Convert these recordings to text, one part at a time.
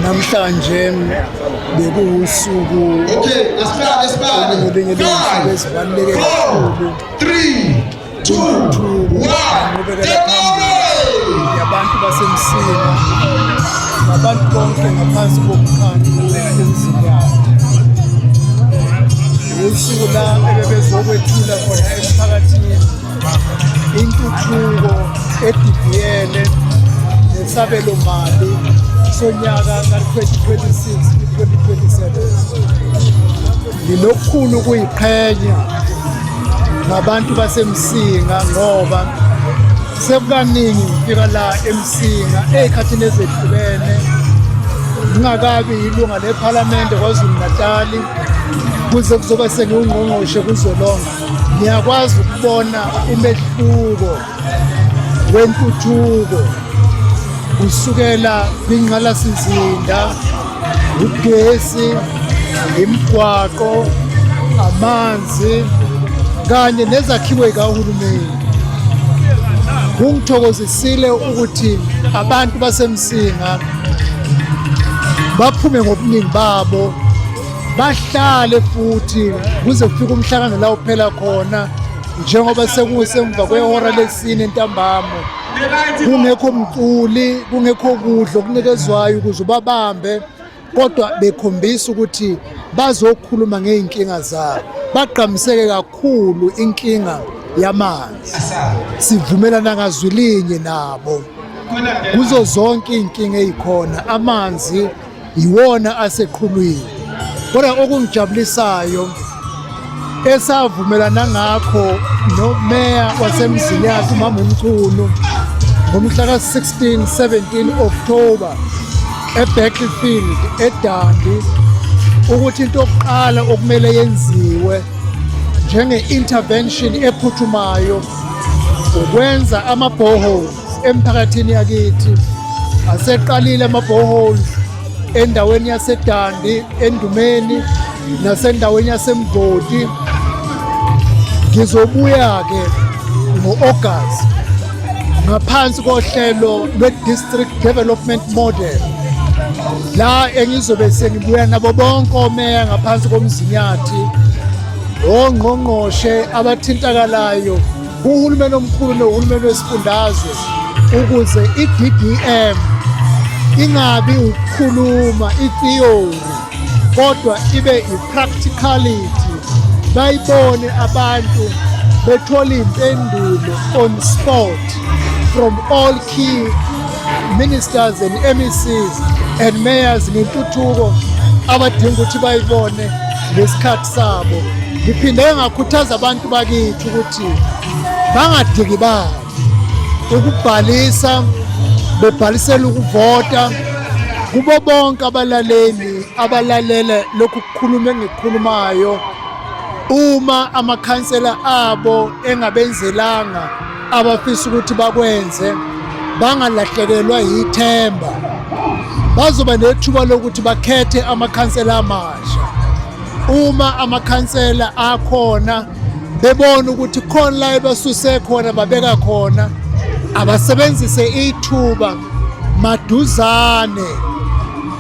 namhlanje bekuwusuku olunye lwezinsuku ezibaluleke kakhulu intuthuko nqubekela phambili yabantu basemsini nabantu bonke ngaphansi kokukhanya emzini yabo usuku la ebebezokwethula khona emphakathini intuthuko edidiyele nesabelo mali sonyaka ka-2026-2027 nginokukhulu ukuyiqhenya ngabantu basemsinga ngoba sekukaningi ngifika la emsinga ey'khathini ezehlukene ngingakabi yilunga lephalamende kwazulu natali kuze kuzoba sengiwungqongqoshe kuzolonga ngiyakwazi ukubona umehluko wentuthuko kusukela kwinqalasizinda ugesi imigwaqo amanzi kanye nezakhiwe kahulumeni kungithokozisile ukuthi abantu basemsinga baphume ngobuningi babo bahlale futhi kuze kufike umhlangano la uphela khona njengoba sekusemva kwehora lesine ntambama kungekho mculi kungekho kudla okunikezwayo ukuze ubabambe kodwa bekhombisa ukuthi bazokhuluma ngey'nkinga zabo bagqamiseke kakhulu inkinga yamanzi sivumelana ngazwi linye nabo kuzo zonke iy'nkinga ey'khona amanzi yiwona aseqhulwini kodwa okungijabulisayo esavumelana ngakho nomeya wasemzini yakhe umama umchunu ngomhla ka-16 17 October eBattlefield eDandi ukuthi into yokuqala okumele yenziwe njenge-intervention ephuthumayo ukwenza ama-borehole Emphakathini yakithi aseqalile ama-boreholes endaweni yasedandi endumeni nasendaweni yasemgodi ngizobuya-ke ngo-agasti ngaphansi kohlelo lwe-district development model la engizobe sengibuya nabo bonke omeya ngaphansi komzinyathi ongqongqoshe abathintakalayo kuhulumeni omkhulu nohulumeni wesifundazwe ukuze i-DDM ingabi ukukhuluma i-theory kodwa ibe i-practicality bayibone abantu bethola impendulo on spot from all key ministers and MECs and mayors ngentuthuko abadinga ukuthi bayibone ngesikhathi sabo ngiphinde ngakhuthaza abantu bakithi ukuthi bangadikibali ukubhalisa bebhalisela ukuvota kubo bonke abalaleli abalalele lokhu kukhuluma engikhulumayo uma amakhansela abo engabenzelanga abafisa ukuthi bakwenze bangalahlekelwa yithemba bazoba nethuba lokuthi bakhethe amakhansela amasha uma amakhansela akhona bebona ukuthi khona la ebasuse khona babeka khona abasebenzise ithuba maduzane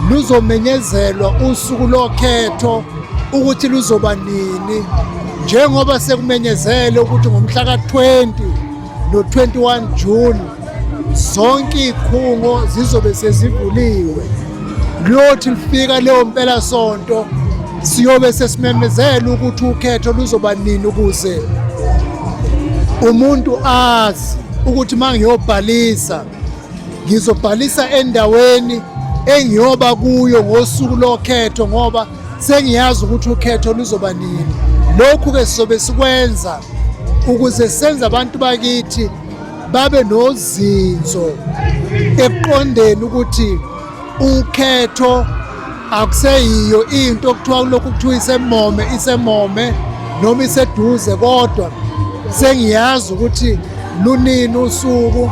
luzomenyezelwa usuku lokhetho ukuthi luzoba nini njengoba sekumenyezele ukuthi ngomhla ka-20 no-21 June zonke iy'khungo zizobe sezivuliwe kuyothi lifika leyo mpelasonto siyobe sesimemezela ukuthi ukhetho luzoba nini ukuze umuntu azi ukuthi uma ngiyobhalisa ngizobhalisa endaweni engiyoba kuyo ngosuku lokhetho ngoba sengiyazi ukuthi ukhetho luzoba nini lokhu-ke sizobe sikwenza ukuze senze abantu bakithi babe nozinzo ekuqondeni ukuthi ukhetho akuseyiyo into okuthiwa kulokhu kuthiwa isemome isemome noma iseduze kodwa sengiyazi ukuthi lunini usuku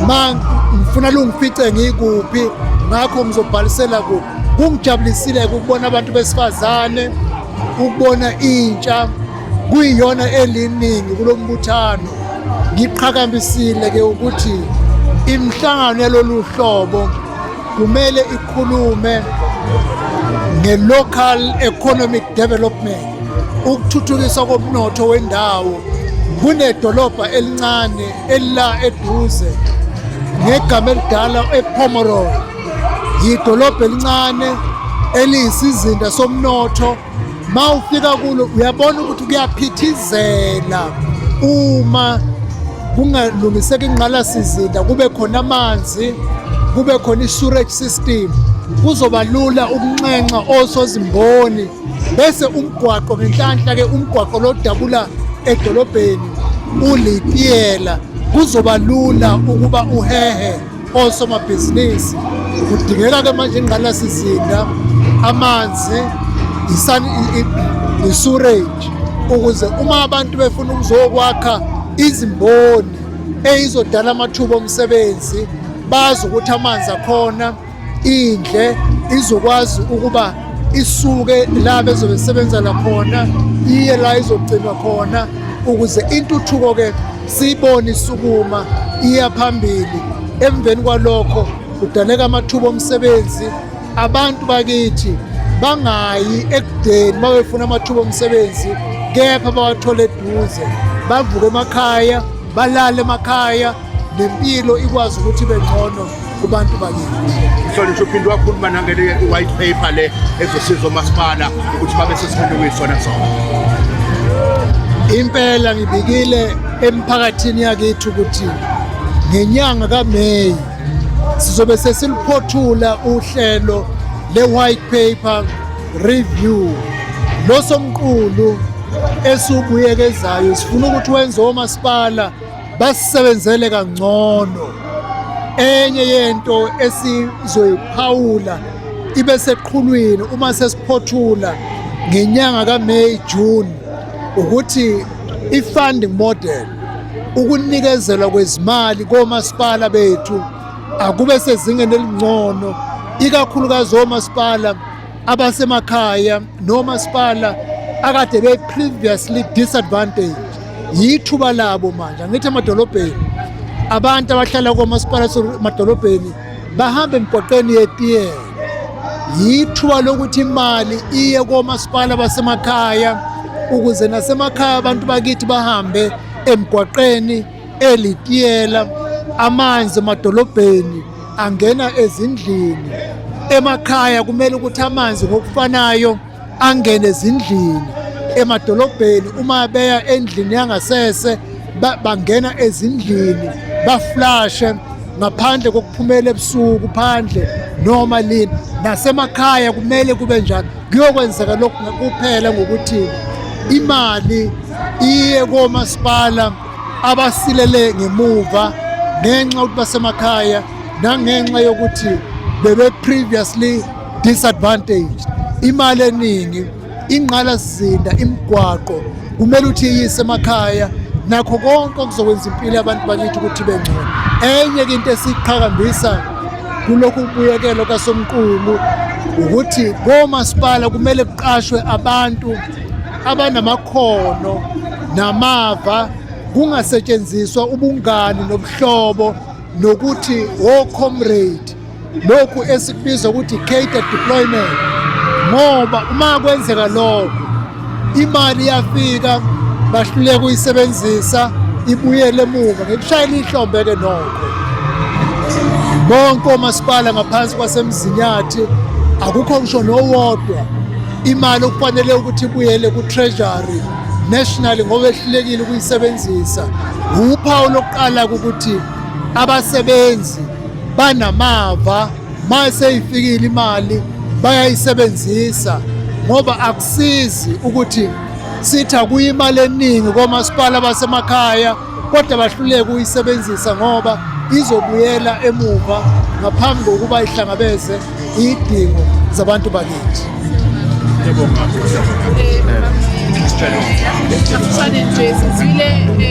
ma ngifuna lungifice ngikuphi ngakho ngizobhalisela kuphi Kungijabulisile ukubona abantu besifazane ukubona intsha kuyiyona eliningi kulo mbuthano ngiqhakambisile ke ukuthi imihlangano yalolu hlobo kumele ikhulume nge-local economic development ukuthuthukiswa komnotho wendawo kunedolobha elincane elila eduze ngegama elidala ePomeroy yidolobha elincane eliyisizinda somnotho ma ufika kulo uyabona ukuthi kuyaphithizela uma kungalungiseka ingqalasizinda kube khona amanzi kube khona i-surage system kuzoba lula ukunxenxa osozimboni bese umgwaqo ngenhlanhla-ke umgwaqo lodabula edolobheni ulitiyela kuzoba lula ukuba uhehe Osomabhizinisi kudingeka ke manje ingqalasizinda, amanzi, isurage ukuze uma abantu befuna ukuzokwakha izimboni eyizodala amathuba omsebenzi bazi ukuthi amanzi akhona indle izokwazi ukuba isuke la bezobe sebenzela khona iye la izogcinwa khona ukuze intuthuko ke siyibone isukuma iya phambili emveni kwalokho kudaleka amathuba omsebenzi abantu bakithi bangayi ekudeni bawefuna amathuba omsebenzi kepha bawathole eduze bavuke emakhaya balale emakhaya nempilo ikwazi ukuthi ibe ngcono kubantu bakithi. Mhlonishwa uphinde wakhuluma nangele white paper le ezosiza omasipala ukuthi babe sesikhulumi sona sona. Impela ngibikile emphakathini yakithi ukuthi ngenyanga kaMay sizobe sesiliphothula uhlelo le-white paper review losomqulu esiwubuyekezayo sifuna ukuthi wenze omasipala basisebenzele kangcono enye yento esizoyiphawula ibe seqhulwini uma sesiphothula ngenyanga kaMay June ukuthi i-funding model ukunikezelwa kwezimali komasipala bethu akube sezingeni elingcono ikakhulukazi omasipala abasemakhaya nomasipala akade be previously disadvantage yithuba labo manje angithi emadolobheni abantu abahlala komasipala emadolobheni bahamba emgwaqeni yetiyela yithuba lokuthi imali iye komasipala basemakhaya ukuze nasemakhaya abantu bakithi bahambe emgwaqeni elitiyela amanzi emadolobheni angena ezindlini emakhaya kumele ukuthi amanzi ngokufanayo angene ezindlini emadolobheni uma beya endlini yangasese bangena ezindlini baflashe ngaphandle kokuphumela ebusuku phandle noma lini nasemakhaya kumele kube njalo kuyokwenzeka lokhu kuphela ngokuthi imali iye komasipala abasilele ngemuva ngenxa yokuthi basemakhaya nangenxa yokuthi bebe previously disadvantaged imali eningi ingqalasizinda imigwaqo kumele uthi iyise emakhaya nakho konke okuzokwenza impilo yabantu bakithi ukuthi bengcono enye ke into esiqhakambisa kulokhu kubuyekelo kasomqulu ukuthi komasipala kumele kuqashwe abantu abanamakhono namava kungasetshenziswa ubungani nobuhlobo nokuthi wo-comrade lokhu esikubiza ukuthi cater deployment ngoba uma kwenzeka lokho imali iyafika bahluleka uyisebenzisa ibuyele emuva ngekushayela ihlombe-ke nokho bonke omasipala ngaphansi kwasemzinyathi akukho ngisho nowodwa Imali okufanele ukuthi ibuyele ku-treasury national ngoba ehlulekile ukuyisebenzisa wuphawu lokuqala ukuthi abasebenzi banamava ma seyifikile imali bayayisebenzisa ngoba akusizi ukuthi sithi akuyimali eningi komasipala basemakhaya kodwa bahluleke ukuyisebenzisa ngoba izobuyela emuva ngaphambi kokuba ihlangabeze idingo zabantu bakithi Siyabonga. Siyabonga. Eh, eh, eh,